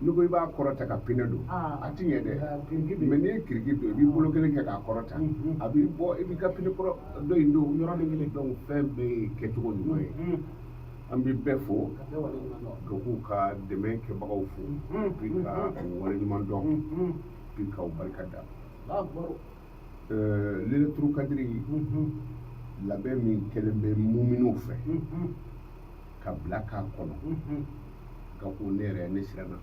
n'i ko i b'a kɔrɔta ka pinɛ don ah. a ti ɲɛ dɛ ah, mɛ n'i ye kiriki don i b'i bolo kelen kɛ k'a kɔrɔta mm-hmm. a b'i bɔ i b'i ka pinɛ kɔrɔ dɔ in don yɔrɔnin kelen donc fɛn bɛɛ ye kɛcogo ɲuman ye mm-hmm. an bɛ bɛɛ fo ka k'u ka dɛmɛ kɛbagaw fo mm-hmm. puis k'u waleɲumandɔn puis k'u barika da layilatul kadiri labɛn min kɛlen bɛ muminw fɛ ka bila k'a kɔnɔ ka ko ne yɛrɛ ne siranna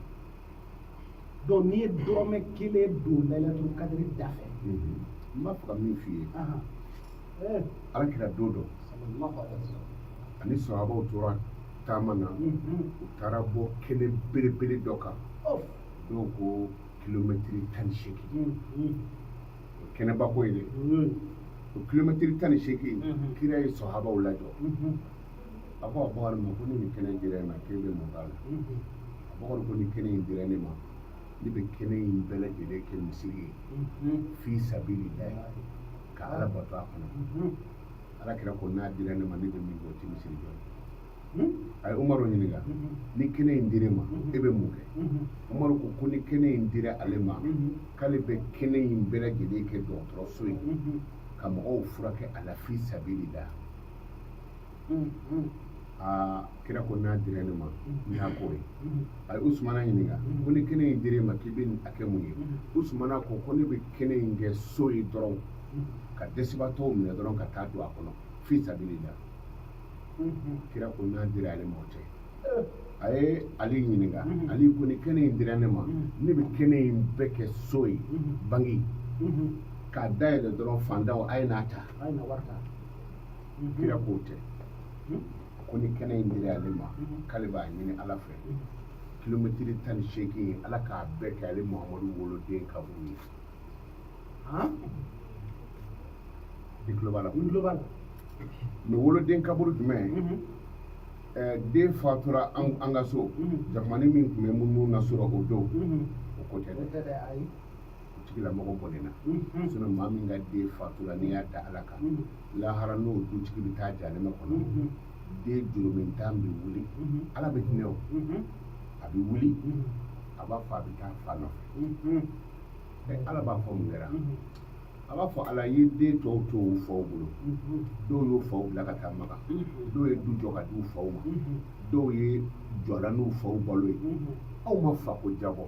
donc n'i ye dɔrɔmɛ kelen don layilatul kadiri da fɛ n b'a fɛ ka min f'i ye ala kira don dɔ ani sahabaw tora taama na u taara bɔ kɛnɛ belebele dɔ kan dɔw ko kilomɛtiri tan ni seegin kɛnɛba ko ye dɛ o kilomɛtiri tan ni seegin kira ye sahabaw lajɔ a ko abubakari ma ko ni nin kɛnɛ dira e ma k'e bɛ mun k'a la abubakari ko ni kɛnɛ in dira ne ma ne bɛ kɛnɛ in bɛɛ lajɛlen kɛ misiri ye fi sabililahi ka ala bato a kɔnɔ ala kira ko n'a dira ne ma ne bɛ min kɛ o tɛ misiri jɔ ye a ye umaru ɲininka ni kɛnɛ in dira e ma e bɛ mun kɛ umaru ko ko ni kɛnɛ in dira ale ma k'ale bɛ kɛnɛ in bɛɛ lajɛlen kɛ dɔgɔtɔrɔso ye ka mɔgɔw furakɛ a la fi sabililahi aa kira ko n'a dira ne ma n t'a k'o ye a ye usumana ɲininka ko ni kɛnɛ in dir'e ma k'i bɛn'a kɛ mun ye usumana ko ko ne bɛ kɛnɛ in kɛ so ye dɔrɔn ka dɛsɛbaatɔw minɛ dɔrɔn ka taa don a kɔnɔ fi sabililahi kira ko n'a dira ale ma o tɛ a ye ali ɲininka ali ko ni kɛnɛ in dira ne ma ne bɛ kɛnɛ in bɛɛ kɛ so ye banki k'a dayɛlɛ dɔrɔn faantanw a ye n'a ta kira k'o tɛ ko ni kɛnɛ in dira ale ma k'ale b'a ɲini ala fɛ kilomɛtiri tan ni seegin in ala k'a bɛɛ kɛ ale muhamadu woloden kaburu ye i tulo b'a la n tulo b'a la mɛ woloden kaburu jumɛn den fatura an ka so jamani min tun bɛ muɲu na sɔrɔ o don o ko tɛ dɛ tigilamɔgɔ bɔnɛna sinon maa min ka den fatura n'i y'a da ala kan lahara n'o dutigi bɛ taa jahanama kɔnɔ den jurumuntan bɛ wuli ala bɛ hinɛ o a bɛ wuli a b'a fɔ a bɛ taa fa nɔfɛ ɛ ala b'a fɔ mun kɛra a b'a fɔ ala ye den tɔw to u faw bolo dɔw y'u faw bila ka taa maka dɔw ye du jɔ ka di u faw ma dɔw ye jɔla n'u faw balo ye aw ma fako jabɔ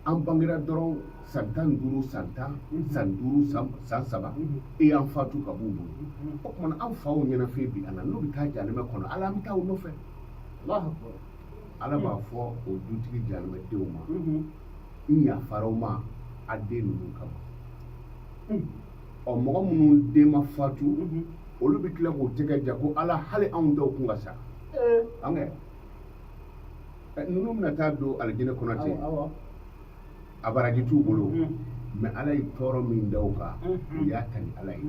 an bangera dɔrɔn san tan ni duuru san tan san duuru san saba e y'an fatu ka b'u bolo o tuma an faw ɲɛnafin bi an na n'u bɛ taa jahanama kɔnɔ ala an bɛ taa u nɔfɛ ala b'a fɔ o dutigi jahanama denw ma n yafara u ma a den ninnu kama ɔ mɔgɔ minnu den ma fatu olu bɛ tila k'u tɛgɛ ja ko ala hali anw dɔw kun ka sa an kɛ ninnu bɛna taa don alijinɛ kɔnɔ ten a baraji t'u bolo mɛ ala ye tɔɔrɔ min da u kan u y'a ta ni ala ye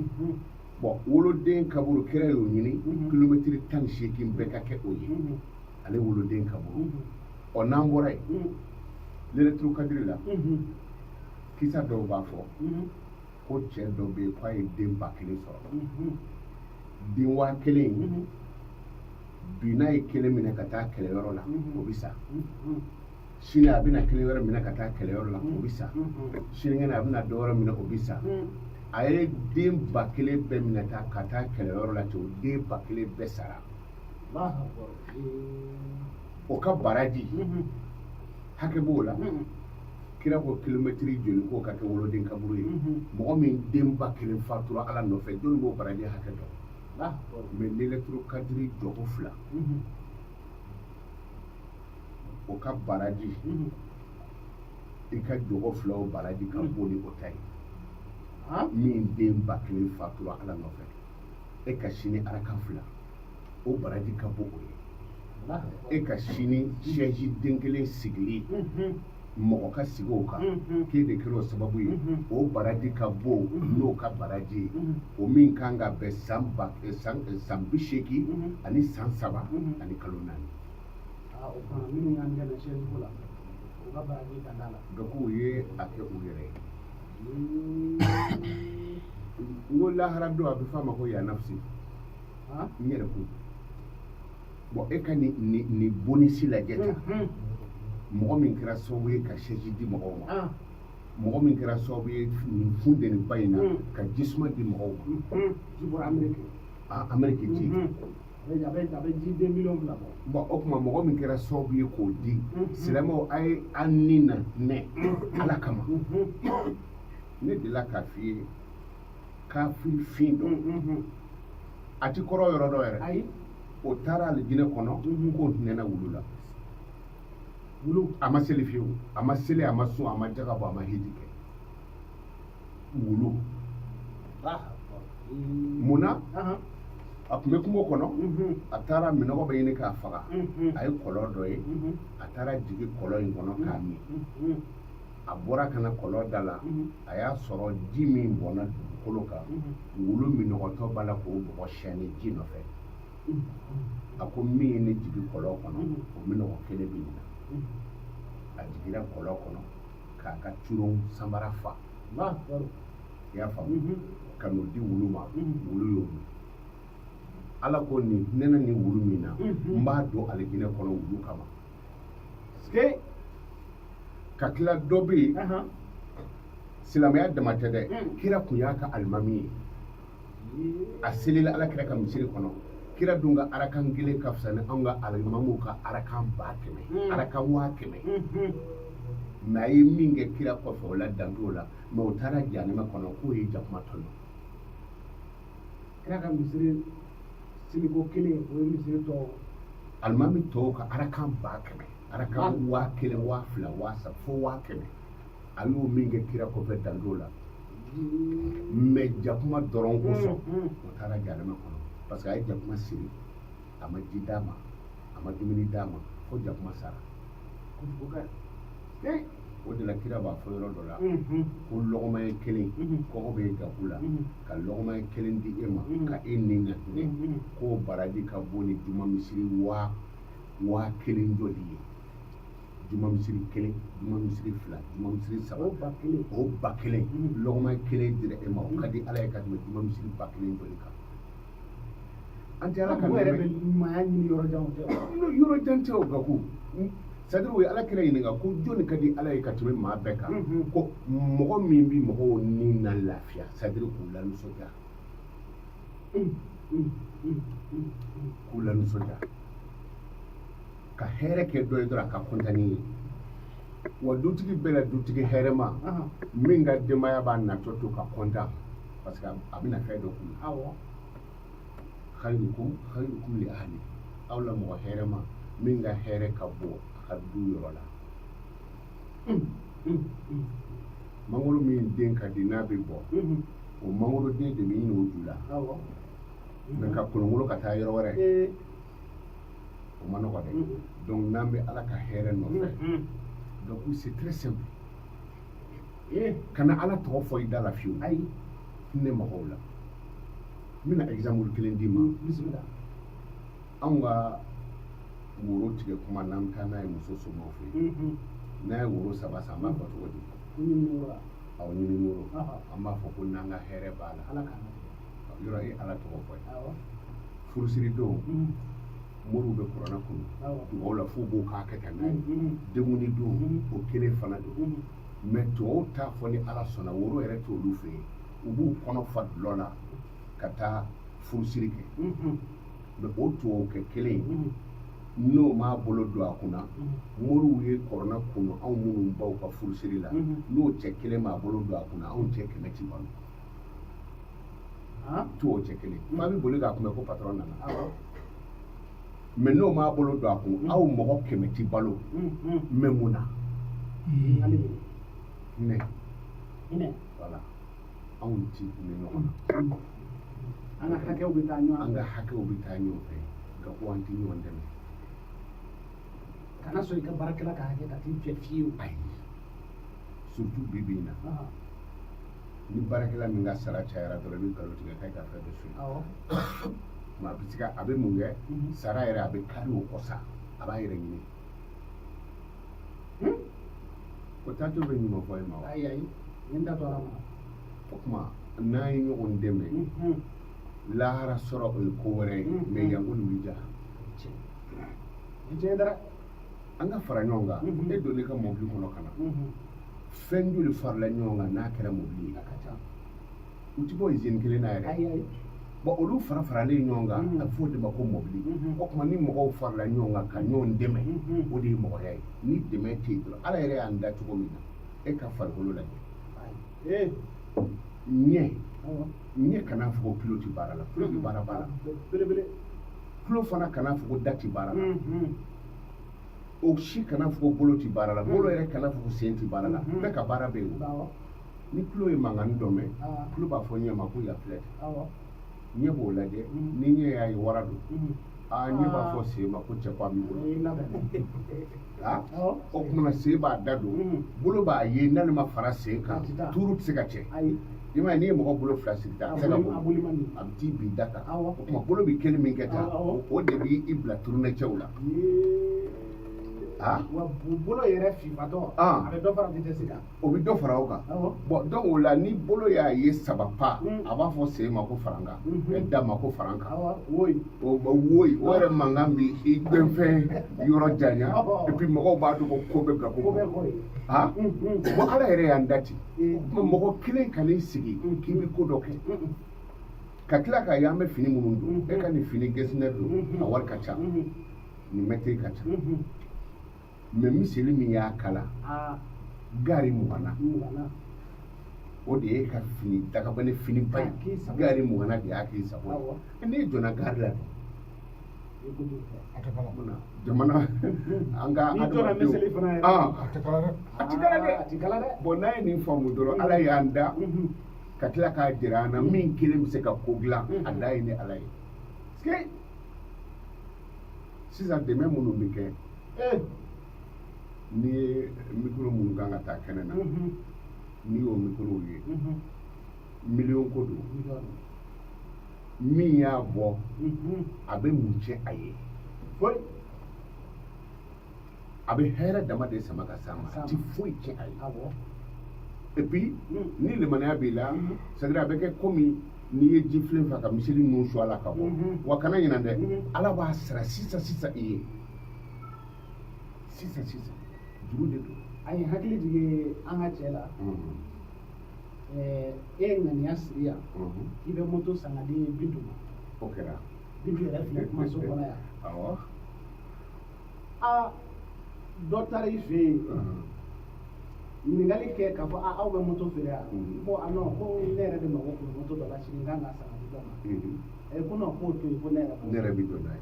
bɔn woloden kaburu kira y'o ɲini kilomɛtiri tan ni seegin bɛɛ ka kɛ o ye ale woloden kaburu ɔ n'an bɔra yen lelɛturu kadiri la kisa dɔw b'a fɔ ko cɛ dɔ bɛ yen k'a ye den ba kelen sɔrɔ den waa kelen in bi n'a ye kelen minɛ ka taa kɛlɛyɔrɔ la o bɛ sa sini a bɛna kelen wɛrɛ minɛ ka taa kɛlɛyɔrɔ la o bɛ sa sinikɛnɛ a bɛna dɔ wɛrɛ minɛ o bɛ sa a ye den ba kelen bɛɛ minɛ tan ka taa kɛlɛyɔrɔ la ten o den ba kelen bɛɛ sara o ka baraji hakɛ b'o la kira ko kilomɛtiri joli k'o ka kɛ woloden kaburu ye mhm. mɔgɔ min den ba kelen fatura ala nɔfɛ jɔnni b'o baraji hakɛ dɔn ah, mɛ lelɛturu kadiri jɔko fila mhm. o ka baraji mhm. i ka jɔko fila o baraji ka bon ni o ta ye ah. min den ba kelen fatura ala nɔfɛ e ka sini araka fila o baraji ka bon o ye e ka sini sɛji den kelen sigili mɔgɔ ka sigi o kan k'e de kɛra o sababu ye o baraji ka bon n'o ka baraji ye o min kan ka bɛn san ba eh, san eh, san bi seegin ani san saba ani kalo naani. Ah, o fana minnu y'an dɛmɛ sɛji ko la u ka baraji ka d'a la. bɛɛ k'u ye a kɛ u yɛrɛ ye. n ko lahara don a bɛ f'a ma ko ya nafisi n yɛrɛkun. bɔn e ka nin bonisi lajɛ tan mm-hmm. mɔgɔ min kɛra sababu ye ka sɛji di mɔgɔw ma ah. mɔgɔ min kɛra sababu ye nin funteniba in na mm. ka jisuma di mɔgɔw ma mm-hmm. ji bɔra ameriki ah, ameriki ji mm-hmm. a bɛ ji den miliyɔn fila bɔ bɔn o tuma mɔgɔ min kɛra sababu ye k'o di silamɛw a ye an ni na nɛ ala kama ne delila k'a f'i ye kafiri fin dɔ a ti kɔrɔ yɔrɔ dɔ yɛrɛ o taara alijinɛ kɔnɔ k'o hinɛna wulu la wulu a ma seli fiyewu a ma seli a ma sun a ma jaga bɔ a ma hiji kɛ wulu mun na a tun bɛ kungo kɔnɔ a taara minɔgɔ bɛ ɲini k'a faga a ye kɔlɔn dɔ ye a taara jigin kɔlɔn in kɔnɔ k'a min a bɔra ka na kɔlɔn da la a y'a sɔrɔ ji min bɔnna dugukolo kan wulu minɔgɔtɔ b'a la k'o bɔgɔ siyɛnni ji nɔfɛ a ko min ye ne jigin kɔlɔn kɔnɔ o minɔgɔ kelen bɛ nin na a jiginna kɔlɔn kɔnɔ k'a ka curon sanbara fa i y'a faamu ka n'o di wulu ma wulu y'o min ala ko nin hinɛna nin wulu min na n b'a don alijinɛ kɔnɔ wulu kama ka tila dɔ bɛ yen silamɛya dama tɛ dɛ hmm. kira tun y'a ka alimami ye a selila ala kira ka misiri kɔnɔ kira dun ka arakan kelen ka fisa ni anw ka alimamuw ka arakan ba kɛmɛ hmm. arakan waa kɛmɛ hmm, mais a ye min kɛ kira kɔfɛ o la dan t'o la mais o taara jahanama kɔnɔ k'o ye jakuma tɔɲɔ kira ka misiri seliko kelen o ye misiri tɔ alimami tɔw ka arakan ba kɛmɛ arakan waa kelen waa fila waa saba fo waa kɛmɛ a y'o min kɛ kira kɔfɛ dan t'o la mais jakuma dɔrɔn kosɔn o taara jahanama kɔnɔ parce que a ye jakuma siri a ma ji d'a ma a ma dumuni d'a ma fo jakuma sara o de la kira b'a fɔ yɔrɔ dɔ la ko lɔgɔmaɲɛ kelen kɔngɔ bɛ gaku la ka lɔgɔmaɲɛ kelen di e ma ka e ni ka hinɛ k'o baraji ka bon ni juma misiri waa kelen jɔli ye juma misiri kelen juma misiri fila juma misiri saba o ba kelen lɔgɔmaɲɛ kelen dira e ma o ka di ala ye ka tɛmɛ juma misiri ba kelen jɔli kan an tɛ ala ka yɛrɛ bɛ ɲumanya ɲini yɔrɔ jan tɛ yɔrɔ jan tɛ o gaku c'est-à-dire o ye ala kira ɲininka ko jɔnni ka di ala ye ka tɛmɛ maa bɛɛ kan ko mɔgɔ min bɛ mɔgɔw ni na lafiya c'est-à-dire k'u lanisɔndiya k'u lanisɔndiya ka hɛrɛ kɛ dɔ ye dɔrɔn a ka kɔntan ni ye wa dutigi bɛɛ la dutigi hɛrɛma min ka denbaya b'a natɔ to ka kɔntan parce que a bɛna fɛn dɔ k'u ye khayrukum khayrukum li ahli aw la mɔgɔ hɛrɛma min ka hɛrɛ ka bon a ka du yɔrɔ la mangoro min den ka di n'a bɛ bɔ o mangoro den de bɛ ɲini o ju la mais ka kolonkolon ka taa yɔrɔ wɛrɛ o ma nɔgɔ dɛ donc n'an bɛ ala ka hɛrɛ nɔfɛ donc c'est très simple eh, kana ala tɔgɔ fɔ i da la fiyewu ayi hinɛ mɔgɔw la n bɛna exemple kelen d'i ma bisimila anw ka woro tigɛ kuma n'an bɛ taa n'a ye muso somɔgɔw fɛ yen n'an ye woro saba san an b'a fɔ cogo di aw ɲini woro an b'a fɔ ko n'an ka hɛrɛ b'a la yɔrɔ ye ala tɔgɔ fɔ ye furusiri don moriw bɛ kurana kunu dugaw la fo b'o k'a kɛ ka n'a ye denkundi don o kelen fana don mɛ tubabuw t'a fɔ ni ala sɔnna woro yɛrɛ t'olu fɛ yen u b'u kɔnɔ fa dulɔ la ka taa furusiri kɛ mɛ o tubabukɛ kelen ye n'o m'a bolo don a kunna moriw ye kurana kunu anw minnu baw ka furusiri la n'o cɛ kelen m'a bolo don a kunna anw cɛ kɛmɛ ti balo tubabu cɛ kelen jama bɛ boli k'a kunbɛn ko patɔrɔn nana mɛ n'o m'a bolo don a kun mm. aw mɔgɔ kɛmɛ ti balo mm, mm. mɛ mun na hinɛ voilà anw ti hinɛ ɲɔgɔn na an ka hakɛw bɛ taa ɲɔgɔn an ka hakɛw bɛ taa ɲɔgɔn fɛ nka ko an ti ɲɔgɔn dɛmɛ kana sɔn i ka baarakɛla ka hakɛ ka t'i fɛ fiyewu ayi surtout bi bi in na ni baarakɛla min ka sara cayara dɔrɔn i bɛ nkalon tigɛ k'a ka fɛn bɛ su a bɛ se ka a bɛ mun kɛ mhm. sara yɛrɛ a bɛ kari o kɔ sa a b'a yɛrɛ ɲini hmm? o taatɔ bɛ ɲuman fɔ e ma wa ayi ayi n b'a to ala ma o tuma n'an ye ɲɔgɔn dɛmɛ mhm. lahara sɔrɔ o ye ko wɛrɛ ye mhm. mɛ yanko nin bɛ ja diɲɛ dara an ka fara ɲɔgɔn kan e donn'i ka mɔbili kɔnɔ ka na fɛn joli farala ɲɔgɔn kan n'a kɛra mɔbili ye u ti bɔ izini kelen na yɛrɛ bon olu fara faralen ɲɔgɔn kan a bɛ fɔ o de ma ko mɔbili o tuma ni mɔgɔw farala ɲɔgɔn kan ka ɲɔgɔn dɛmɛ o de ye mɔgɔya ye ni dɛmɛ tɛ yen dɔrɔn ala yɛrɛ y'an da cogo min na e ka farikolo lajɛ ɲɛ ɲɛ kana fɔ ko tulo tɛ baara la tulo bɛ baara la baara belebele tulo fana kana fɔ ko da tɛ baara la o si kana fɔ ko bolo tɛ baara la bolo yɛrɛ kana fɔ ko sen tɛ baara la bɛɛ ka baara bɛ yen o ni tulo ye mankan dɔ mɛn tulo b'a fɔ ɲɛ ma ko yan filɛ ɲɛ b'o lajɛ ni ɲɛ y'a ye wara don aa ɲɛ b'a fɔ sen ma ko cɛ ko a b'i bolo o tuma sen b'a da don bolo b'a ye n'ale ma fara sen kan tuuru tɛ se ka cɛ i ma n'i ye mɔgɔ bolo fila siri tan a tɛ se ka bɔ a bɛ t'i bin da kan o tuma bolo bɛ kelen min kɛ tan o de b'i bila turunɛ cɛw la wa bolo yɛrɛ fifatɔ a bɛ dɔ fara vitesse kan o bɛ dɔ fara o kan bon donc o la ni bolo y'a ye saba pa mm. a b'a fɔ sen ma ko farankan mm-hmm. da ma ko farankan woyi o yɛrɛ mankan bi i gbɛnfɛn yɔrɔ janya et puis mɔgɔw b'a dɔn ko ko bɛ bila ko ha mm-hmm. bon ala yɛrɛ y'an da ten mm-hmm. mɔgɔ kelen kan'i sigi k'i bɛ ko dɔ kɛ ka tila k'a ye an bɛ fini minnu don e ka nin fini gɛsinɛ don a wari ka ca nin mɛtiri ka ca mais miseli min y'a kala gari mugan na o de ye ka fini dakabana fini ba ye gari mugan na de y'a k'i sago ye n'i jɔnna gari la jamana an ka adamadenw a tɛ kala dɛ a tɛ kala dɛ a tɛ kala dɛ bon n'a ye nin faamu dɔrɔn ala y'an da ka tila k'a jira an na min kelen bɛ se ka ko dilan a da ye ni ala ye sisan dɛmɛ minnu bɛ kɛ n'i ye mikoro minnu kan ka taa kɛnɛ na n'i y'o mikorow ye miliyɔn ko don min y'a bɔ a bɛ mun cɛ a ye a bɛ hɛrɛ dama de sama ka s'a ma a ti foyi cɛ a ye et puis ni limaniya b'i la c'est à dire a bɛ kɛ komi n'i ye ji filen fa ka miseli nun su a la ka bɔ wa kana ɲinɛ dɛ ala b'a sara sisan sisan i ye sisan sisan juru de don a ye hakili jigin an ka cɛ la eh, e ye ŋaniya siri yan k'i bɛ moto san ka di bintu ma o kɛra bintu yɛrɛ filɛ kumaso kɔnɔ yan awɔ a dɔ taara i fɛ yen ɲininkali kɛ k'a fɔ a aw bɛ moto feere yan ko a non ko ne yɛrɛ de mago kun moto dɔ la sini n kan ka san ka di dɔ ma a ye ko non k'o to yen ko ne yɛrɛ ne yɛrɛ bɛ don n'a ye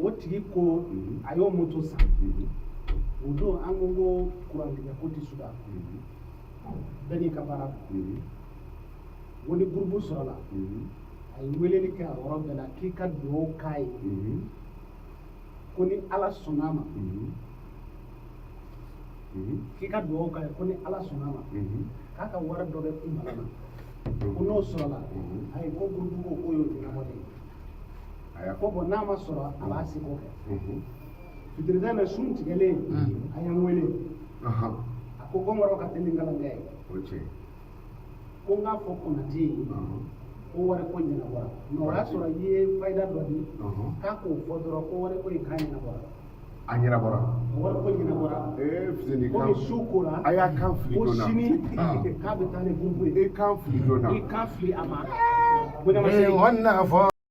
o tigi ko mhm. a y'o moto san mhm. o don an ko ko kurantigɛ ko tɛ suda mhm. bɛɛ n'i ka baara don ko ni gurupu sɔrɔla a ye weleli kɛ a yɔrɔ bɛɛ la k'i ka dugawu k'a ye ko ni ala sɔnna a ma k'i ka dugawu k'a ye ko ni ala sɔnna a ma k'a ka wari dɔ bɛ i mara la ko n'o sɔrɔla a ye ko gurupu ko k'o y'o ɲɛnabɔ de ye ko bon n'a ma sɔrɔ a b'a seko kɛ fitiri tɛmɛna sun tigɛlen a ye n wele a ko kɔnkɔrɔ ka teli nkalankɛ ye ko n k'a fɔ konate ye ko wari ko ɲɛnabɔra mais o y'a sɔrɔ i ye fayida dɔ di k'a k'o fɔ dɔrɔn ko wari ko in k'a ɲɛnabɔra a ɲɛnabɔra wari ko ɲɛnabɔra komi su kora a y'a kan fili ko sini k'a bɛ taa ni gurupu ye i kan fili donna i kan fili a ma ko ne ma se